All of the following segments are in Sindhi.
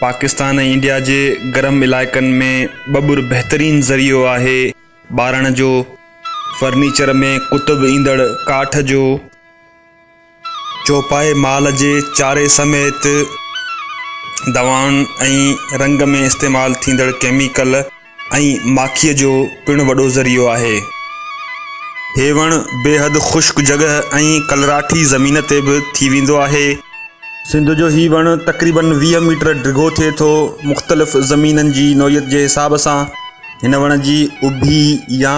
پاڪستان ۽ انڊيا جي گرم علائقن ۾ ٻٻر بهترين ذريعو آهي ٻارڻ جو فرنيچر ۾ ڪتب ايندڙ ڪاٺ جو چوپائي مال جي چاري سميت دوائن ۽ رنگ ۾ استعمال ٿيندڙ ڪيميڪل ۽ ماکيء جو پڻ وڏو ذريعو آهي. هي وڻ بيحد خشڪ جڳهه ۽ ڪلراٺي زمين تي به ٿي ويندو آهي. سنڌ جو هي وڻ تقريباً ويهه ميٽر ڊگهو ٿئي ٿو. مختلف زمينن جي نوعيت جي حساب سان هن وڻ جي اڀي يا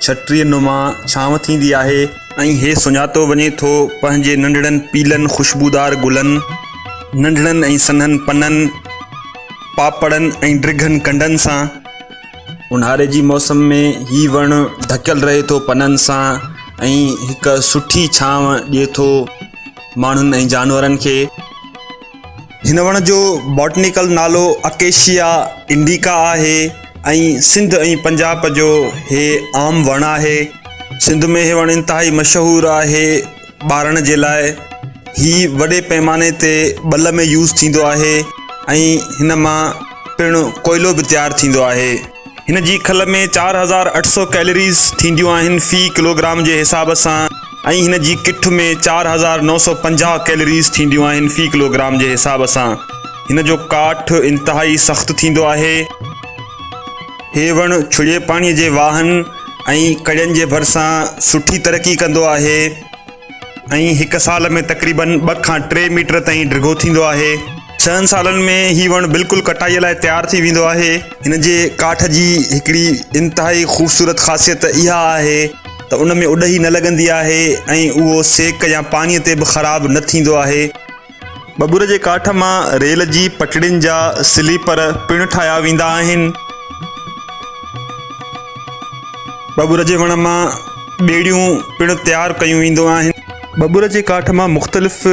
ڇٽريء نما ڇانو ٿيندي آهي. ۽ هي سڃاتو وڃي ٿو پنهنجي ننڍڙن پيلن خوشبودار گلن، ننڍڙن ۽ سنهن پنن، پاپڙن ۽ ڊگهن ڪنڊن سان. اونهاري جي موسم ۾ هي وڻ ڍڪيل رهي ٿو پنن سان ۽ هڪ سٺي ڇانو ڏئي ٿو ماڻهن ۽ جانورن کي. هن وڻ جو باٽنيڪل نالو اڪيشيا انڊيڪا آهي ۽ سنڌ ۽ پنجاب جو هي عام وڻ آهي سنڌ ۾ هي وڻ انتهائي مشهور آهي ٻارڻ جي لاء هي وڏي پيماني تي ٻل ۾ يوز ٿيندو آهي ۽ هن مان پڻ ڪوئلو به تيار ٿيندو آهي هن جي کل ۾ چار هزار اٺ سؤ ڪيلريز ٿينديون آهن في ڪلوگرام جي حساب سان ۽ هن جي ڪٺ ۾ چار هزار نو سؤ پنجاهه ڪيلريز ٿينديون آهن في ڪلوگرام جي حساب سان. هن جو ڪاٺ انتهائي سخت ٿيندو آهي. هي وڻ ڇڙي پاڻي جي واهن ۽ ڪڙين جي ڀرسان سٺي ترقي ڪندو آهي. ۽ هڪ سال ۾ تقريبن ٻه کان ٽي ميٽر تائين ڊگهو ٿيندو آهي. ڇهن سالن ۾ هي وڻ بلڪل ڪٽائي لاء تيار ٿي ويندو آهي. هن جي ڪاٺ جي هڪڙي انتهائي خوبصورت خاصيت اها آهي ته ان ۾ اڏهي نه لڳندي آهي ۽ اهو سيڪ يا پاڻي تي به خراب نه ٿيندو آهي. ٻٻر جي ڪاٺ مان ريل جي پٽڙين جا سليپر پڻ ٺاهيا ويندا آهن. ٻٻر جي وڻ مان ٻيڙيون پڻ تيار ڪيون وينديون آهن. ٻٻر جي ڪاٺ مان مختلف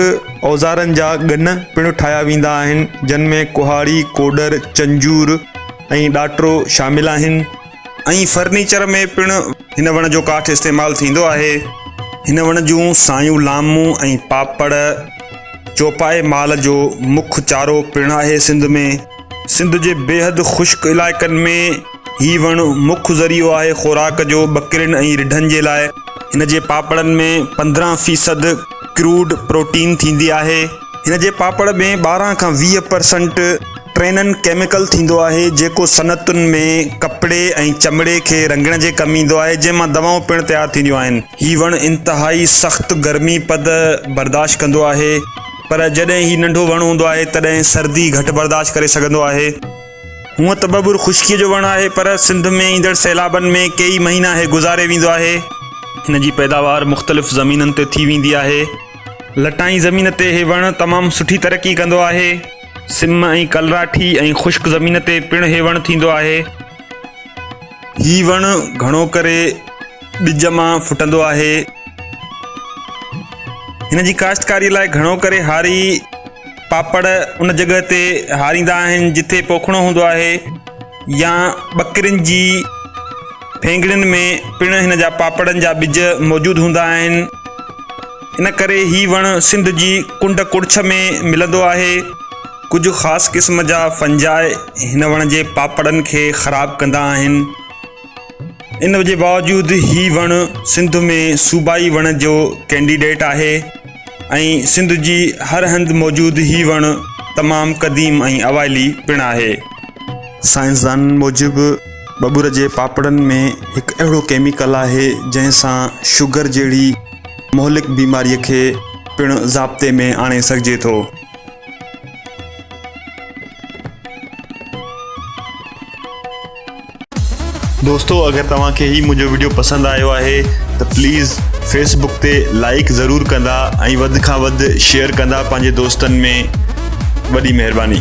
اوزارن جا گن پڻ ٺاهيا ويندا آهن، جن ۾ ڪهاڙي، ڪوڏر، چنجور ۽ ڏاٽرو شامل آهن. ۽ فرنيچر ۾ پڻ هن وڻ جو ڪاٺ استعمال ٿيندو آهي. هن وڻ جون سايون لامون ۽ پاپڙ چوپائي مال جو مک چارو پڻ آهي سنڌ ۾ سنڌ جي بيحد خشڪ علائقن ۾ هي وڻ مک ذريعو آهي خوراڪ جو ٻڪرين ۽ رڍن جي لاء هن جي پاپڙن ۾ پندرهن فيصد ڪروڊ پروٽين ٿيندي آهي. هن جي پاپڙ ۾ ٻارهن کان ويهه پرسنٽ ٽرينن ڪيميڪل ٿيندو آهي جيڪو صنعتن ۾ ڪپڙي ۽ چمڙي کي رنگڻ جي ڪم ايندو آهي جنهن مان دوائون پڻ تيار ٿينديون آهن. هي وڻ انتهائي سخت گرمي پد برداشت ڪندو آهي پر جڏهن هي ننڍو وڻ هوندو آهي تڏهن سردي گهٽ برداشت ڪري سگهندو آهي. هونء ته ٻٻر خشڪي جو وڻ آهي پر سنڌ ۾ ايندڙ سيلابن ۾ ڪيئي مهينا هي گذاري ويندو آهي. هن جي پيداوار مختلف زمينن تي ٿي ويندي آهي. لٽائين زمين تي هي وڻ تمام سٺي ترقي ڪندو آهي. سم ۽ ڪلراٺي ۽ خشڪ زمين تي پڻ هي وڻ ٿيندو آهي. هي وڻ گهڻو ڪري ٻج مان ڦٽندو آهي. هن جي ڪاشتڪاري لاء گهڻو ڪري هاري پاپڙ ان جڳهه تي هاريندا آهن جتي پوکڻو هوندو آهي يا ٻڪرين جي ڦينگڙين ۾ پڻ هن جا پاپڙن جا ٻج موجود هوندا آهن. ان ڪري هي وڻ سنڌ جي ڪنڊ ڪڙڇ ۾ ملندو آهي. ڪجهه خاص قسم جا فنجاء هن وڻ جي پاپڙن کي خراب ڪندا آهن. ان جي باوجود هي وڻ سنڌ ۾ صوبائي وڻ جو ڪينڊيڊيٽ آهي. ۽ سنڌ جي هر هنڌ موجود هي وڻ تمام قديم ۽ اوائلي پڻ آهي. سائنسدانن موجب ٻٻر جي پاپڙن ۾ هڪ اهڙو ڪيميڪل آهي جنهن سان شگر جهڙي مهلڪ بيماري کي پڻ ضابطي ۾ آڻي سگهجي ٿو. دوستو اگر توهان کي هي منهنجو وڊيو پسند آيو آهي ته پليز فيس بڪ تي لائيڪ ضرور ڪندا ۽ وڌ کان وڌ شيئر ڪندا پنهنجي دوستن ۾ وڏي مهرباني.